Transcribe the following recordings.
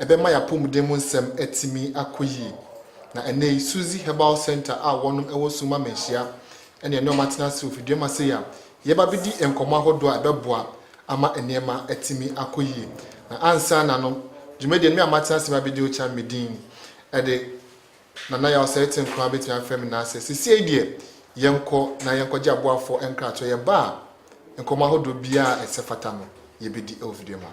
ɛbɛma yɛn apɔmuden mu nsɛm atumi akɔ yie. Na ɛnnɛ yi, Suzy Herbal Centre a wɔnom wɔ Summa Manhyia na yɛne wɔn atena ase wɔ fidua mu ase yi a yɛreba abɛdi nkɔmmɔ ahodoɔ a ɛbɛboa ama nneɛma atumi akɔ yie. Na ansa na no, dwumadie no, me a matena ase abɛdi Ocham me din de Nana Yaw Sɛrete Nkoraa bɛtumi afrɛ me na sɛ sesiei deɛ yɛnkɔ na yɛnkɔgye aboafoɔ nkratoɔ. Yɛba a, nkɔmmɔ ahodoɔ biara a ɛsɛ fata no, yɛbɛdi wɔ fidua mu ha.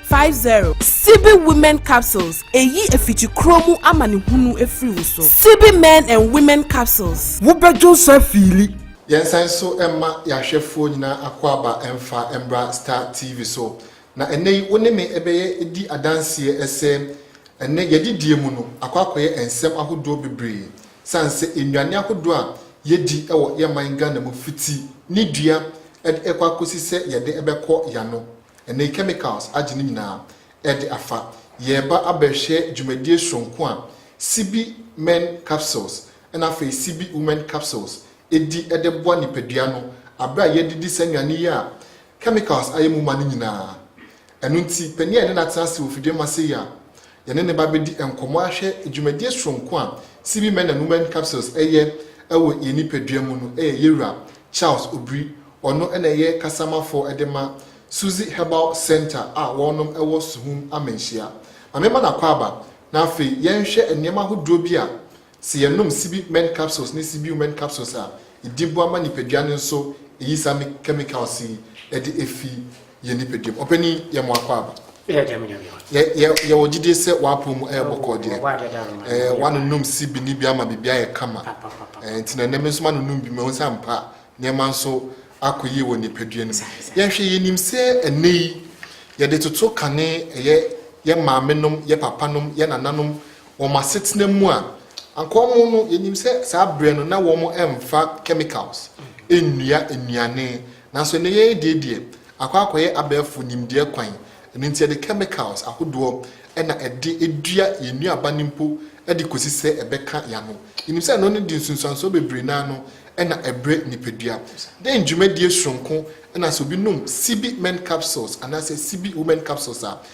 Five zero. Sibi Women Capsules eyi efikyi koro mu amanehunu efiri wo so. Sibi Men and Women Capsules. Wo bɛ dwo sa fiili. Yɛn san nso mma yɛn ahwɛfoɔ nyinaa akwaaba mfa mbra Star TV so. Na ɛnnɛ yi wo ne me bɛyɛ di adanseɛ sɛ ɛnnɛ yɛadidie mu no akɔ akɔyɛ nsɛm ahodoɔ bebree sane sɛ nnuane ahodoɔ a yɛdi wɔ yɛn man Ghana mu fiti ne dua de kɔ akɔsi sɛ yɛde bɛkɔ yɛano Ɛnɛ chemicals agye ne nyinaa ɛde afa. Yɛreba abɛhwɛ dwumadie soronko a Sibi Men Capsules ɛna afei Sibi Women Capsules ɛdi ɛde boa nipadua no aberɛ a yɛredidi saa nnuane yi a chemicals ayɛ mu ma no nyinaa. Ɛno nti panin a yɛne no atena ase wɔ fidie mu ase yi a Yɛne ne ba bɛdi nkɔmmɔ ahwɛ dwumadie soronko a CB Men and Women Capsules yɛ wɔ yɛn nipadua mu no yɛ yɛwura Charles Obiri, ɔno na ɛyɛ kasamafɔɔ de ma Suzy Herbal Centre a wɔnom wɔ Suhum Amanhyia. Ma memma no akwaaba na afei yɛnhwɛ nneɛma ahodoɔ bi a Sɛ yɛnom sibi mɛn capsules ne sibiu mɛn capsules a, edi boa ma nipadua no nso eyi saa me chemicals yi de efi yɛn nipaduam. Ɔpanin, yɛ mo akwaaba. Yɛ gyam nyame hɔ. Yɛ yɛ yɛwɔ gyidie sɛ w'apɔn mu ɛyɛ bɔkɔɔ deɛ. Wɔbɔ adeɛ da roma. Ɛɛ w'anonom sibi ne bi ama biribi ayɛ kama. Ɛɛ nti na nnɛ me nso m'anonom bi mahu sɛ ampa nneɛma nso akɔ yie wɔ nipadua no mu. Yɛnhwɛ yɛnim sɛ ɛnnɛ yi yɛde toto kane ɛyɛ yɛ maamenom, yɛ papanom, yɛ nananom wɔn asetena mu a, anka wɔn no, yɛnim sɛ saa berɛ no na wɔn mfa chemicals nnua nnuane, nanso ɛnnɛ yɛn adie deɛ, akɔ akɔyɛ abɛɛfo nimdeɛ kwan, ɛno nti yɛde chemicals ahodoɔ na ɛde dua yɛn nnuaba no mpo de kɔsi sɛ ɛbɛka y'ano. Yɛnim sɛ ɛno no de nsunsuansoɔ bebree no ara no na ɛbrɛ nipadua. Dɛn dwumadie soronko na sɛ obi nom CB men capsules anaasɛ CB women capsules a,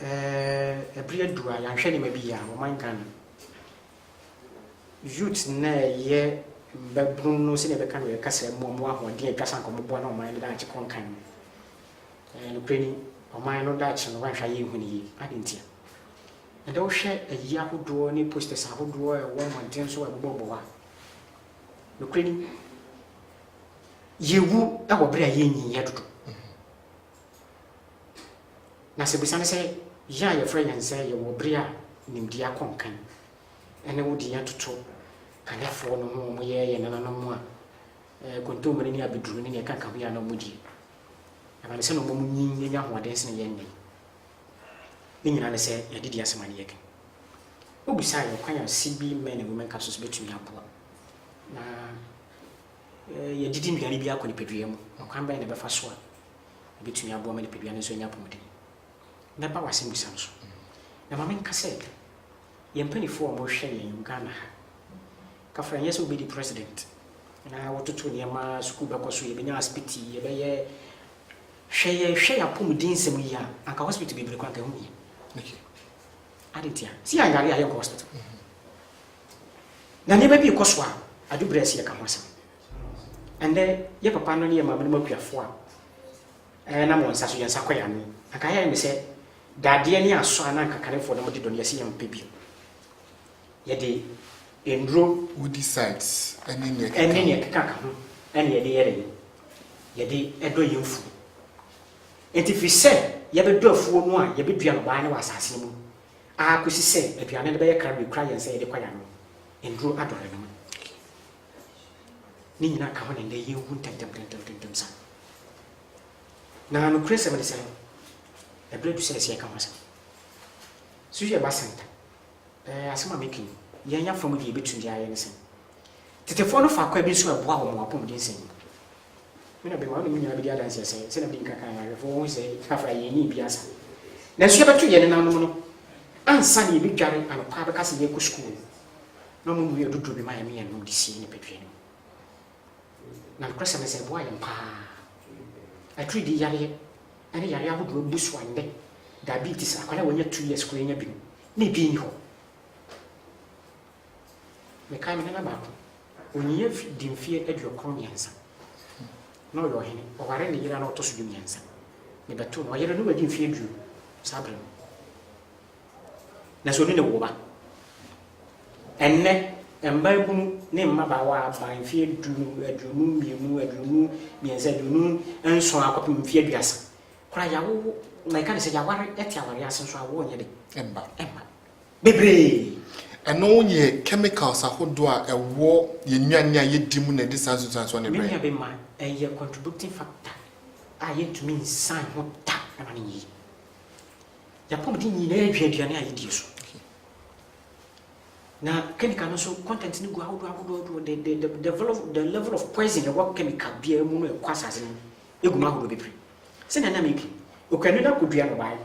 Ɛɛ bere adu a yɛanhwɛ nneɛma bi yie a ɔman Ghana youth na ɛyɛ mbabunu no sɛdeɛ ɛbɛka no yɛka sɛ mo mo ahoɔden atwa sa nka ɔmoboa na ɔman no daakye kɔ nkan no ɛɛ nokorɛ ni ɔman no daakye no wanhwɛ ayɛ nhu no yie ade ntia ɛdɛ wohwɛ ayi ahodoɔ ne posters ahodoɔ ɛwɔ mmɔnten so ɛbobɔbɔ hɔ a nokorɛ ni yɛwu ɛwɔ bere a yɛnyi yɛ dodo Na sɛ bisa no sɛ, Yɛ a yɛfrɛ yɛn sɛ yɛwɔ bere a nimdeɛ akɔ nkan ne wo din atoto Kanefoɔ no ho a wɔyɛ yɛn nananom a kontommire ne abɛduru ne nea ɛkanka ho yi a na wɔdie? Ɛbɛne sɛ na wɔma mo nyin nya ahoɔden sene yɛn nnɛ yi? Ne nyinaa ne sɛ yɛde di asɛm a na yɛka. Wobisae ɔkwan a CB Men and Women Capsules betumi aboa na Yɛdidi nnuane bi ara kɔ nipadua mu. Ɔkwan bɛn na ɛbɛfa so a ebetumi aboa ma nipadua no nso anya apɔwmuden? Mɛba w'asɛmmisa no so, na ma menka sɛ yɛn mpanyimfo a wɔhwɛ yɛn wɔ Ghana ha, kafra ɛnyɛ sɛ wobedi president na wɔtoto nneɛma, sukuu bɛkɔ so, yɛbenya asipiti, yɛbɛyɛ Hwɛ yɛhwɛ yɛn apɔwmuden nsɛm yi a, anka hospital bebree koraa anka ɛho nhia. Adɛn ntia? Sɛ yɛayare a yɛnkɔ hospital. Na nneɛma bi rekɔ so a, adwobrɛ si ɛka ho asɛm. Ɛnnɛ, yɛ papa no ne yɛ maame nom akuafo a ɛɛ nam wɔn nsa so, yɛn nsa kɔ yɛn ano. Anka yɛayɛ ne sɛ dadeɛ ne asɔ a na anka kanefoɔ nom de dɔ no yɛse yɛmpɛ bio. Yɛde nnuro. Wodi sites ɛne nea ɛkeka ho. Ɛne nea ɛkeka ka ho ɛne yɛde yɛ dɛn? Yɛde ɛdɔ yɛn mfuo. Enti firi sɛ yɛbɛdɔ afuo no a yɛbɛdua no, waa ne wɔ asaase no mu. ara kosi sɛ aduane no bɛyɛ kra ma ekura yɛn sɛ yɛde kwae anom. Nnuru adɔre no mu. Ne nyinaa ka ho na nnɛ yenhu ntɛmntɛmntɛmntɛmntɛm saa. Na nokorɛsɛm ne sɛ, ɛbere adu sɛ ɛsɛ yɛka ho asɛm. So yɛ ba center? Ɛɛ, asɛm a meka yi, yɛn yɛn afa mu deɛ yebetumi biara yɛ ne sɛn? Tetefo no fa kwan bi nso a ɛboa wɔn wɔ apɔmuden sɛn mu? Me na Bɛma, wo ne me nyinaa bɛdi adanseɛ sɛ, sɛdeɛ mede nka kaa awerɛfoɔ wɔ ho sɛ, Afra, yɛn ani rebue asa. Nanso yɛbɛto yɛn nenanom no ansa na yɛbɛdware anɔpa abɛka sɛ yɛrekɔ sukuu no, na wɔnnue aduduro bi ma yɛn ne yɛn nom de sie nipadua no mu. Na nokorɛsɛm ne sɛ, ɛboaa yɛn pa ara. Atiridii yareɛ ne yareɛ ahodoɔ abu so a nnɛ, diabetes, akwadaa a wanya two years koraa nya bi no, na ebi nni hɔ. Mekae me nana baako, ɔnyiiɛ dii mfeɛ aduokron mmiɛnsa, na ɔyɛ ɔhene, ɔwaree ne yere a na ɔtɔ so du mmiɛnsa. Mebɛtoo no, ɔyere no wadi mfeɛ aduonu saa berɛ no, nanso ɔne no woo ba. Ɛnnɛ, mmaabunu ne mmabaawa aban mfeɛ du, aduonu mmienu, aduonu mmiɛnsa, aduonu nson akɔpem mfeɛ aduasa koraa, yɛawowo, na ɛka ne sɛ yɛaware te awareɛ ase nso a, awoɔ nyɛ dɛ? Ɛmma. Ɛmma. bebree. Ɛno yɛ chemicals ahodoɔ a ɛwɔ yɛn nnuane a yɛdi mu na ɛde saa nsunsuansoɔ no brɛ yɛn. Many abi ma ɛyɛ contributing factor a yɛntumi nsan ho da ɛma no nyɛ yie. Yɛn apɔmuden nyinaa adwiri aduane a yɛdie so. Na chemical no nso content no gu ahodoɔ ahodoɔ ahodoɔ the the the the level of the level of poison ɛwɔ chemical biara mu no ɛkɔ asase no mu egu mu ahodoɔ bebree. Sɛnea na meka yi, Okuanu no akɔdua nnɔbaeɛ no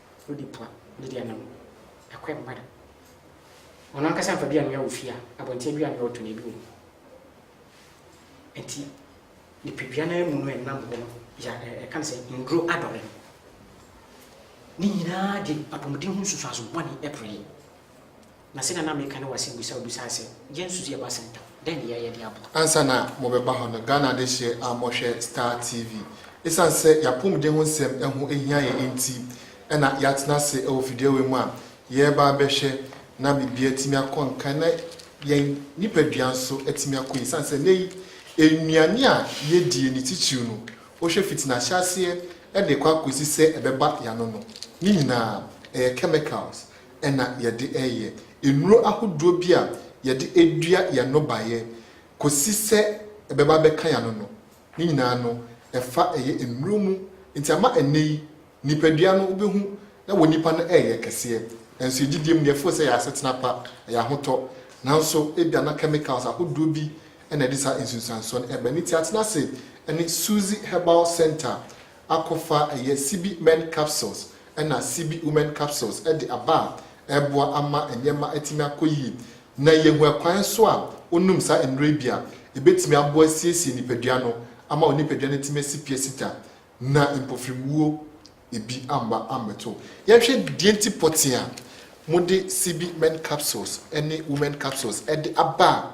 Wode pua ne deɛ no no, ɛkɔ mma da. Ɔno ankasa mfa bi anwea wɔ fie a, abɔnten aduane anwea ɔtɔ na ebi wɔ mu. Nti nipadua no mu no ɛnam hɔ no ya ɛka no sɛ nnuro adɔre no. Ne nyinaa de apɔmuden ho nsusuaso bɔne ɛpere. Na sɛnea na meka ne w'asɛmbisa a wobisaa sɛ, Yɛn nso so yɛba Sɛntam, dɛn ne yɛreyɛ de aboa? Ansa na mobɛba hɔ no, Ghana adehyeɛ a mohwɛ Star TV. Esiane sɛ y'apomuden ho nsɛm ho hia yɛn enti na y'atena ase wɔ fidua wei mu a yɛreba abɛhwɛ na biribiara atumi akɔ nkan na yɛn nipadua nso atumi akɔ yie. Esiane sɛ nnɛ yi nnuane a yɛdie no titiriw no wohwɛ fiti n'ahyɛaseɛ de rekɔ akɔsi sɛ ɛbɛba y'ano no, ne nyinaa ɛyɛ chemicals na yɛde reyɛ. Nnuro ahodoɔ bi a yɛde dua yɛn nnɔbaeɛ kɔsi sɛ ɛbɛba abɛka yɛn ano no, ne nyinaa no, ɛfa ɛyɛ nnuro mu. Nti ama ɛnnɛ yi, nipadua no wobɛhu na wɔ nnipa no reyɛ kɛseɛ. Nanso yɛn gyidie mu no, yɛfoo sɛ ɛyɛ asetena pa, ɛyɛ ahotɔ. Nanso ebia na chemicals ahodoɔ bi na ɛde saa nsunsuansoɔ no reba. Nti atena ase ne Suzy Herbal Centre akɔfa ɛyɛ Sibi Men Capsules ɛna Sibi Women Capsules de aba a ɛreboa ama nneɛma atumi akɔ yie na yɛahu ɛkwan nso a wonom saa nnuro yi bi a ɛbɛtumi aboa asiesie nipadua no ama onipadua no atumi asi pi asi ta na mpofiriwuo bi amma ammɛto wo. Yɛnhwɛ deɛ nti pɔtee a mode Sibi Men Capsules ne Women Capsules de aba a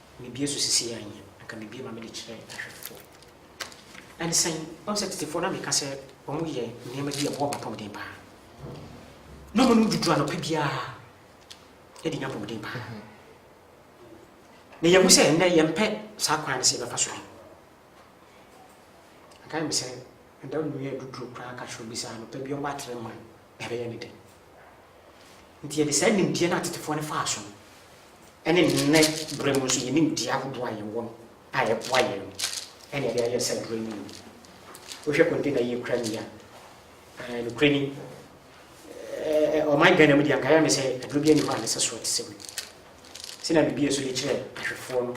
Mebue so sesei a nyɛ anka mebue ma mede kyerɛ ahwɛfo. Ɛne sɛn? Woahu sɛ tetefoɔ no a meka sɛ wɔyɛ nneɛma bi a ɛboa wɔn apɔmuden paa na wɔnom duduro anɔpa biara de nya apɔmuden paa. Na yɛahu sɛ ɛnnɛ yɛmpɛ saa kwan no sɛ yɛbɛfa so bi. Anka yɛ me sɛ ɛda nnua aduduro koraa ka kyerɛ obi sɛ anɔpa bi ɔmmɔ atere mma no. ɛbɛyɛ no den. Enti yɛde saa nimdeɛ no a tetefoɔ no faa so no, ɛne nnɛ berɛ mu nso yɛn nimdeɛ ahodoɔ a yɛwɔ no a ɛboa yɛn no, ɛna yɛde ayɛ saa aduro no mu. Wohwɛ container yi kura ni a, ɛɛ nokorɛ ni, ɛɛ ɔman Ghana mu deɛ anka yɛ me sɛ aduro bi ani hɔ a ne sɛ soɔ te sɛ wei. Sɛ na biribi nso de kyerɛ ahwɛfoɔ no,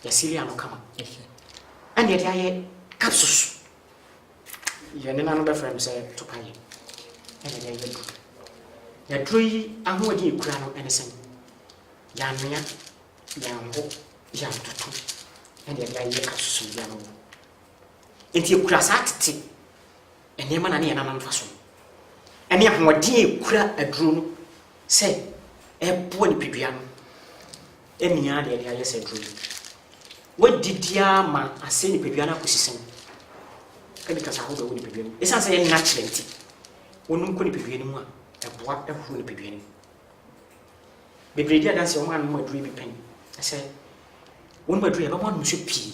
yɛasili ano kama. Ɛna yɛde ayɛ capsules Yɛn nenanom bɛfrɛ no sɛ topae na yɛde ayɛ aduru. Na aduru yi ahoɔden a ɛkura no ne sɛn? Yɛanoa, yɛanho, yɛantoto na yɛde ayɛ asusumdua no wɔ. Enti ɛkura saa tete nneɛma na ne yɛn nana mfa so. Ɛne ahoɔden a ɛkura aduro no sɛ ɛboa nipadua no Mia deɛ de ayɛ sɛ aduro yi. Wadi di ara ma asɛe nipadua no akɔsi sɛn? Ɛde kasa ahodoɔ wɔ nipadua no mu. Ɛsiane sɛ ɛyɛ natural nti, wonom kɔ nipadua no mu a, ɛboa horo nipadua no mu. Bebree di adanseɛ wɔn a nom aduro yi bi pɛn sɛ wɔnom aduro yi ɛbɛma wɔn so pii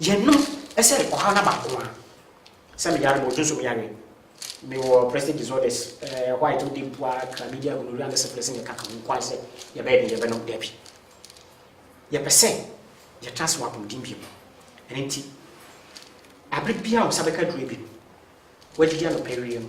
Yɛnom sɛ ɔha na baako a. Sɛ me yare ma odwo nso me yare. Me wɔ prestate disorders, white wo de mpo a, chlamydia, gonorrhea ne syphilis na ɛkaka ho nko ara sɛ yɛbɛyɛ den yɛbɛnom, dabi. Yɛpɛ sɛ yɛtra ase wɔ apɔmuden bio. Ɛno nti, bere biara a wo nsa bɛka aduru abien, woadidi anɔpa awie no,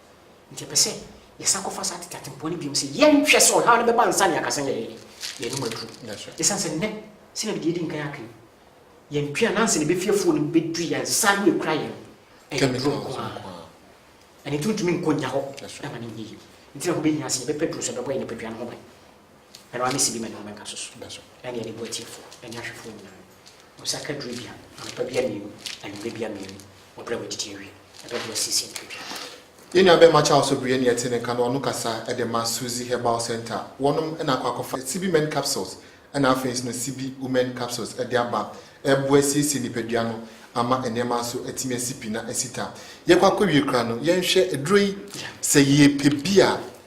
Enti ɛpɛ sɛ yɛsan kɔfa saa tete atempɔn no bio sɛ yɛnhwɛ sɛ ɔhaw no bɛba ansa na yɛaka sɛ yɛn anom aduru. Esiane sɛ nnɛ, sɛnea mede adi nkan aka yi, yɛn aduan ansa na ebefi afuw no mu bedu yɛn nsa no ekura yɛn no, ɛyɛ aduru nko ara. Ɛno nti wontumi nkɔ nnya hɔ mma no nyɛ yiye. Enti na ɛho behia sɛ yɛbɛpɛ aduru so a ɛbɛbɔ yɛn nipadua no ho ban. Ɛno ara ne sibima ne mmɛnka so so, ɛne ɛde boa atiefo ne ahwɛfo nyinaa. Ɔsa ka duru bia, anɔpa bia mmienu, anwummerɛ bia mmienu, wɔ berɛ a wɔadidi awie. Ɛbɛboa siesie ne tiri dua. Yɛn nuabarima Charles Obiriye na yɛte ne nka na ɔno kasa de ma Suzy Herbal Centre. Wɔnom na akɔ akɔfa Sibi Men Capsules ɛna afei nso no Sibi Women Capsules de aba ɛreboa asiesie nipadua no ama nneɛma nso atumi asi pi na asi ta. Yɛkɔ akɔwie koraa no, yɛnhwɛ aduro yi sɛ yɛpɛ bi a,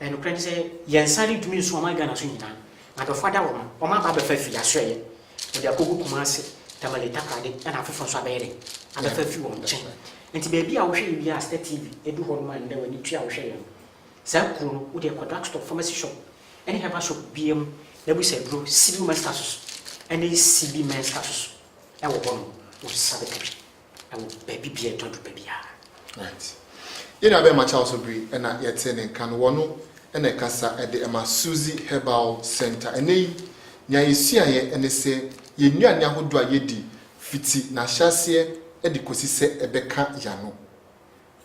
Na nokorɛ ne sɛ, yɛn nsa rentumi nso ɔman Ghana so nyinaa. Na adɔfoɔ ada wɔn, wɔn aba abɛfa afiri asoɛeɛ, wɔde akɔgu Kumasi, Tamale, Takoradi ɛna afoforɔ nso abɛyɛ dɛn, abɛfa afiri wɔn nkyɛn. Enti baabi a wohwɛ yɛ biara a Star TV ɛdu hɔ nom a nnɛ w'ani tua a wohwɛ yɛ no, saa kuro no wodeɛ kɔ drug store, pharmacy shop ɛne herbal shop biara mu na bisa aduro Sibiu Menstasus ɛne CB Menstasus ɛwɔ hɔ nom, wosesa bɛka bi. Ɛwɔ baabi bia ɛtɔ do baabi ara. Right. Yɛn nua bɛma Charles Obiri na yɛtee ne nka no. Wɔno na ɛkasa de ma Suzy Herbal Centre. Ɛnnɛ yi, nea yesuaeɛ ne sɛ yɛn nnuane ahodoɔ a yɛdi fiti n'ahyɛaseɛ de kɔsi sɛ ɛbɛka y'ano.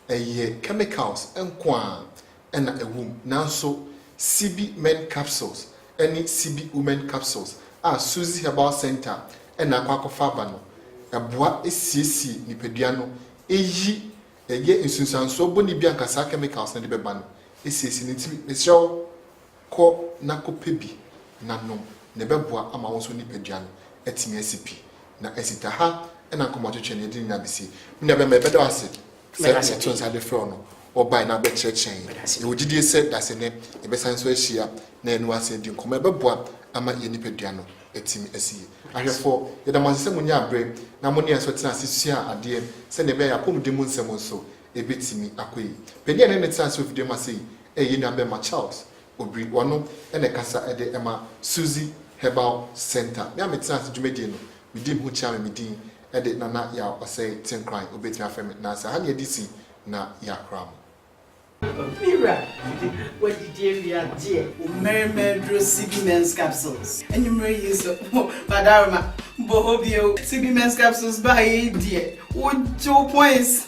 ɛyɛ chemicals nko ara na ɛwɔ mu, nanso Sibi Men Capsules ne Sibi Women Capsules a Suzy Herbal Centre na akɔ akɔfa aba no boa siesie nipadua no yi ɛyɛ nsunsuansoɔ bɔne biara a anka saa chemicals no de bɛba no siesie no. Nti mesrɛ wo. Kɔ na kɔpɛ bi na nom, na ɛbɛboa ama wo nso wo nipadua no atumi asi pi. Na asi ta ha na nkɔmmɔtwetwe no yɛde ne nyinaa bɛsie. Me nua bɛma, yɛbɛda wo ase sɛ yɛtoo nsa de frɛɛ wo no, wobae na wobɛkyerɛkyerɛɛ yɛn. Yɛwɔ gyidie sɛ dasene yɛbɛsan nso ahyia na yɛne wo asan adi nkɔmmɔ a ɛbɛboa ama yɛn nipadua no atumi asi yie. Ahwɛfoɔ, yɛda mo ase sɛ monyaa berɛ na mo ne yɛn nso tenaa ase suaa adeɛ sɛdeɛ ɛbɛyɛ a apɔmuden mu nsɛm nso ebetumi akɔ yie. Panyin a na ɛne tena ase wɔ fidua mu ase yi yɛ yɛn nua barima Charles Obiri. Ɔno na ɛkasa de ma Suzy Herbal Centre. Me a metena ase dwumadie no, medi me ho kyia me me din de Nana Yaw Ɔsɛe Tenkoran. Wobetumi afrɛ me Nansa. Ha na yɛde si na yɛakora mo. Opira, Woadidi awie adeɛ? Wo mmarima aduro CB Men's Capsules anwummerɛ yi nso ho Badarima bɔ hɔ bio CB Men's Capsules baeɛ yi deɛ wogye wo points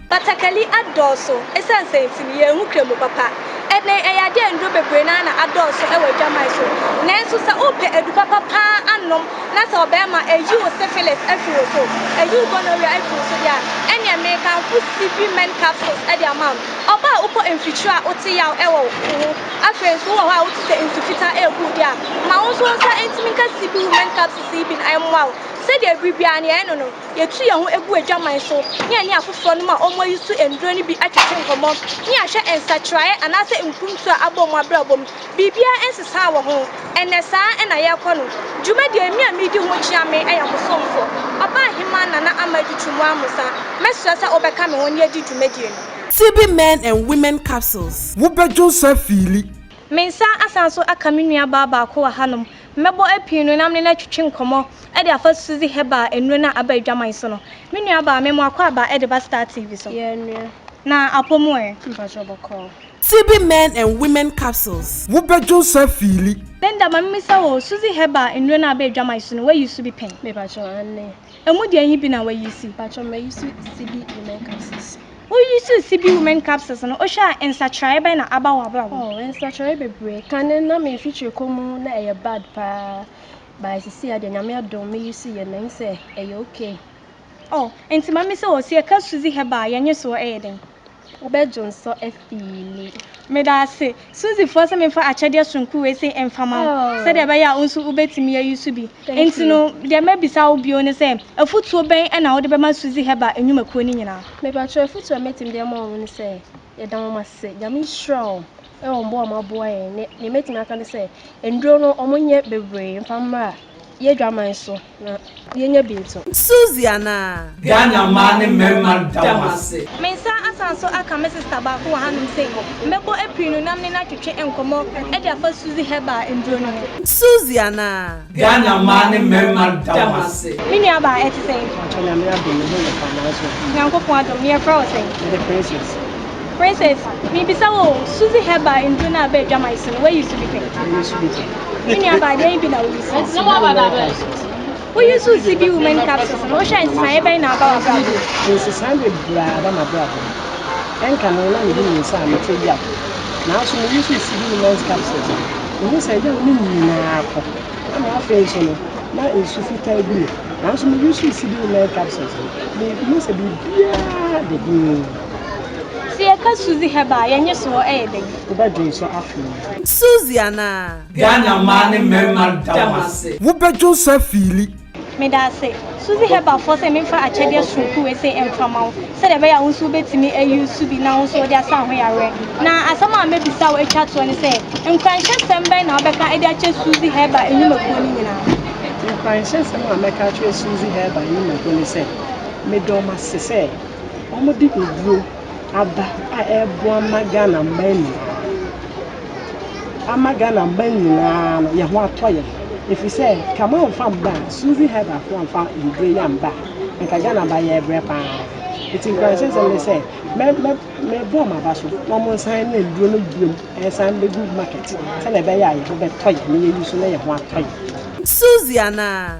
Batakari adɔɔso esiane sɛn nti? Yɛnhu Kremo papa. Ɛnnɛ ɛyɛ ade a nnuro bebree no ara na adɔɔso wɔ adwaman so. Nanso sɛ wopɛ adu papa pa ara anom na sɛ ɔbarima ayi wo syphilis afi wo so, ayi wo gonorrhea afi wo so deɛ a, ɛnneɛ merekamfo CV Men Capsules de ama wo. Ɔbaa a wokɔ mfikyire a wote yaw wɔ wo ho, afei nso wowɔ hɔ a wote sɛ nsu fitaa rebu wo deɛ a, ma wo nso wo nsa ntumi nka CV Women Capsules yi bi na ɛmmoa wo. Sɛdeɛ bere biara no yɛyɛ no no, Yɛtu yɛn ho gu adwaman so ne yɛne afoforɔ nom a wɔayi so nnuro no bi atete nkɔmmɔ ne ahwɛ nsakyeraeɛ anaasɛ mpuntuo a abɔ wɔn abrabɔ mu. Biribiara nsesaa wɔ ho. Ɛnnɛ, saa na yɛrekɔ no. Dwumadie a me a meredi ho kyea me yɛ mo somfo, Ɔbaahemaa Nana Ama Adutwum Amusa. Mɛsrɛ sɛ wobɛka me ho na yɛadi dwumadie no. TB Men and Women Capsules. Wobɛdwo nsa fiili Me nsa asan nso aka me nuabaa baako wɔ hanom. Mɛbɔ apii no na me ne no atwetwe nkɔmmɔ de afa Suzy Herbal nnuro no a aba adwaman so no. Me nuabaa, me mmoa kɔ aba de ba Star TV so. Na apɔ mu ɛ? Mpakyɛw bɔkɔɔ. TB Men and Women Capsules. Wo bɛ dwo nsa fiili. Linda, ma me mmisa wo, Suzy Herbal nnuro no a aba adwaman so no, woayi so bi pɛn? Me pakyɛw, aane. Emu deɛ yi bi na wayi si. Mpatsɔ ma yi so CB women capsules. Woyi so CB women capsules no wohwɛ a nsakyeraeɛ bɛn na aba wɔ abrabɔ. Oh nsakyeraeɛ bebree kane na me mfikyire kɔ mu na ɛyɛ bad paa by sisi adeɛ nyame adom me yi so yɛ na yi sɛ ɛyɛ okay. Oh nti ma me sɛ o sɛ yɛ ka suzy herbal yɛ nye soɔ ɛyɛ dɛn. wobɛdwonsɔ afiili. Meda ase, Suzyfoɔ sɛ memfa akyɛdeɛ soronko wei sei mfa ma wo sɛdeɛ ɛbɛyɛ a wo nso wobɛtumi ayi so bi. Enti no, deɛ mɛbisa wo bio ne sɛ, afotuo bɛn na wode bɛma Suzy Herbal nnwumakuo no nyinaa? Mepakyɛw, afotuo a mɛtumi de ama wɔn ne sɛ, yɛda wɔn ase, Nyame nhyira wɔn wɔ mmoa a wɔaboa yɛn. Deɛ mɛtumi aka ne sɛ, nnuro no wɔnyɛ bebree mfa mmra yɛn Adwaman so. Na yɛnya bi nto. Suzy anaa? Ghana mmaa ne mmarima da mo ase. Me nsa asan so aka me sista baako wɔ hanom sei, mɛbɔ apiri no nam ne no atwetwe nkɔmmɔ de afa Suzy Herbal nnuro no ho. Suzy anaa? Ghana mmaa ne mmarima da mo ase. Me nua baa ɛte sɛn? Mpakyɛ Nyame adom me ho yɛ paa nanso. Nyankopɔn adom, ne yɛfrɛ wo sɛn? Mede Princess. Princess, mebisa wo o, Suzy Herbal nduro no a ɛba adwaman so no, wo use bi pɛn? Me use bi pɛn. Me nuabaa, deɛn bi na wo use? Wo use CB Women Capsules no, wohwɛ a nsesaeɛ bɛn na aba w'abrabɔ mu? Nsesaeɛ bebree a aba m'abrabɔ mu. Ɛnka no na medi me nsa a mete yaw. Nanso me use CB Women's Capsules no, mehu sɛ yaw no nyinaa kɔ. Ɛna afei nso no, na nsu fitaa gu me. Nanso me use CB Women's Capsules no, mehu sɛ biribiara da dinn. Sɛ yɛka Suzy Herbal a, yɛn nnyesoɔ yɛ dɛn? Wobɛdwo nsɔ afei? Suzy anaa? Ghana mmaa ne mmarima da mo ase. Wobɛdwo nsɔ afii li? Meda ase, Suzy Herbal foɔ sɛ memfa akyɛdeɛ soronko wei sei mfa ma wo sɛdeɛ ɛbɛyɛ a wo nso wobɛtumi a use bi na wo nso wode asa ahoyareɛ. Na asɛm a mɛbisa wo atwa toɔ ne sɛ, nkuranhyɛsɛm bɛn na wobɛka de akyerɛ Suzy Herbal nnwumakuo no nyinaa? Nkuranhyɛsɛm a mɛka akyerɛ Suzy Herbal nnwumakuo ne sɛ, medɔ mo ase sɛ. Wɔde nnuro aba a ɛreboa ma Ghana mmaa nyinaa. Ama Ghana mmaa nyinaa no, yɛn ho atɔ yɛn. Ɛfiri sɛ, ka ma wɔmfa mma a, Suzy Herbal fo amfa nnuro yi amba a, anka Ghana mmaa yɛrebrɛ pa ara. Nti nkuranhyɛsɛm ne sɛ, mɛ, mɛ, mebɔ wɔn aba so na wɔnsan ne nnuro no bio nsan mmɛgu market sɛdeɛ ɛbɛyɛ a yɛn ho bɛtɔ yɛn na yɛayi so na yɛn ho atɔ yɛn. Suzy anaa?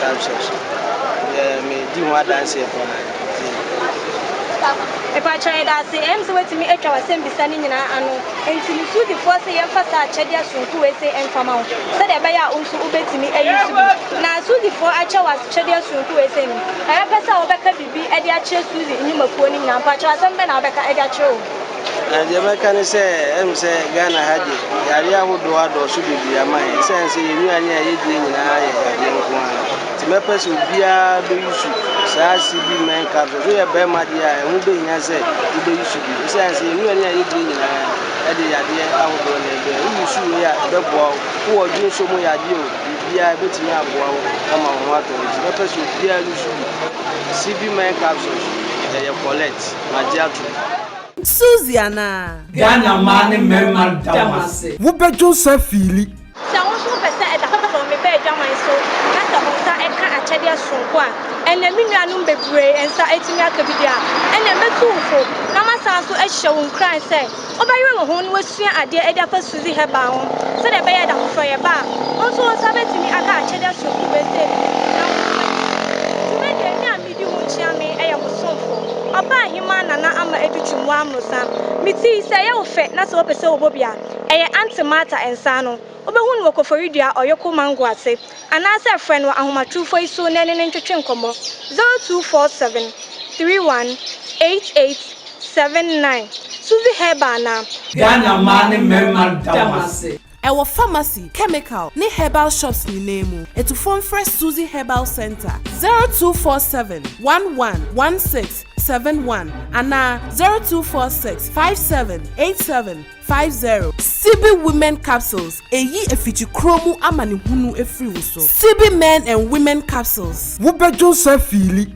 Dinosaurs deɛ me di ho adanseɛ paa nti. Mepakyɛw yɛda ase ɛyɛ me sɛ woatumi atwa w'asɛmbisa no nyinaa ano enti me su defoɔ se yɛmfa saa akyɛdeɛ soronko wei se mfa ma wo sɛdeɛ ɛbɛyɛ a wo nso wobɛtumi ayi so bi na su defoɔ akyɛ wo akyɛdeɛ soronko wei se no ɛbɛpɛ sɛ wobɛka biribi de akyerɛ su de nnwumakuo no nyinaa mpakyɛw asɛm bɛn na wobɛka de akyerɛ wɔn. Na deɛ mɛka ne sɛ, ɛm sɛ Ghana ha deɛ, yareɛ ahodoɔ adɔɔso bebree ama yɛn. Ɛsiane sɛ yɛn nnuane a yɛdie nyinaa yɛ yadeɛ nko ara nti, mɛpɛ sɛ obiara bɛyusu saa CB Men Capsules. Woyɛ barima deɛ a, ɛho bɛhia sɛ wobɛyusu bi. Ɛsiane sɛ yɛn nnuane a yɛdie nyinaa ɛde yadeɛ ahodoɔ na ɛbrɛ. Woyusu wei a, ɛbɛboa wo. Wowɔ adwensɔ mu yadeɛ o, biribiara ɛbɛtumi aboa wo ama wo ho atɔ wo. Nti mɛpɛ sɛ obiara yusu bi. CB Men Capsules, ɛyɛ kɔlɛt. magye atom. Suzy anaa? Ghana mmaa ne mmarima da mo ase. Wo bɛ dwo nsa fiili. Sɛ wo nso wopɛ sɛ ɛda hɔ ma wo mebɛ adwaman so na sɛ wo nsa ka akyɛdeɛ soronko a ɛnneɛ me nuanom bebree nsa atumi aka bi deɛ a, ɛnneɛ mɛtu wo fo na masan nso ahyɛ wo nkuran sɛ wobɛyere wo ho na woasua adeɛ adi afa Suzy Herbal ho sɛdeɛ ɛbɛyɛ da foforɔ yɛba a, wo nso wo nsa bɛtumi aka akyɛdeɛ soronko wei sɛ bi na woatumi adi dwuma. Dwumadie, Nyame. Di mu nkyea me, yɛ mo somfo. Ɔbaa hemaa na na ama adi twam wɔ amorosa. Me ti, sɛ ɛyɛ wo fɛ na sɛ wopɛ sɛ wobɔ bi a, ɛyɛ Aunty Martha nsa ano. Wobɛhu no wɔ koforidua ɔyoko mango ase. Anaasɛ frɛ no wɔ ahomatorofo yi so na ɛne no ntwetwe nkɔmmɔ, 0247 318879. Suzy Herbal na. Ghana mmaa ne mmarima da mo ase. Ɛwɔ pharmacy, chemical, ne herbal shops nyinaa mu. Atufoɔ mfrɛ Suzy Herbal Centre, zero two four seven, one one, one six, seven one anaa zero two four six, five seven, eight seven, five zero. Sibi Women Capsules, Ɛyi afikyikuro mu amanehunu firi wo so. Sibi Men and Women Capsules. Wobɛdwo nsa fiili.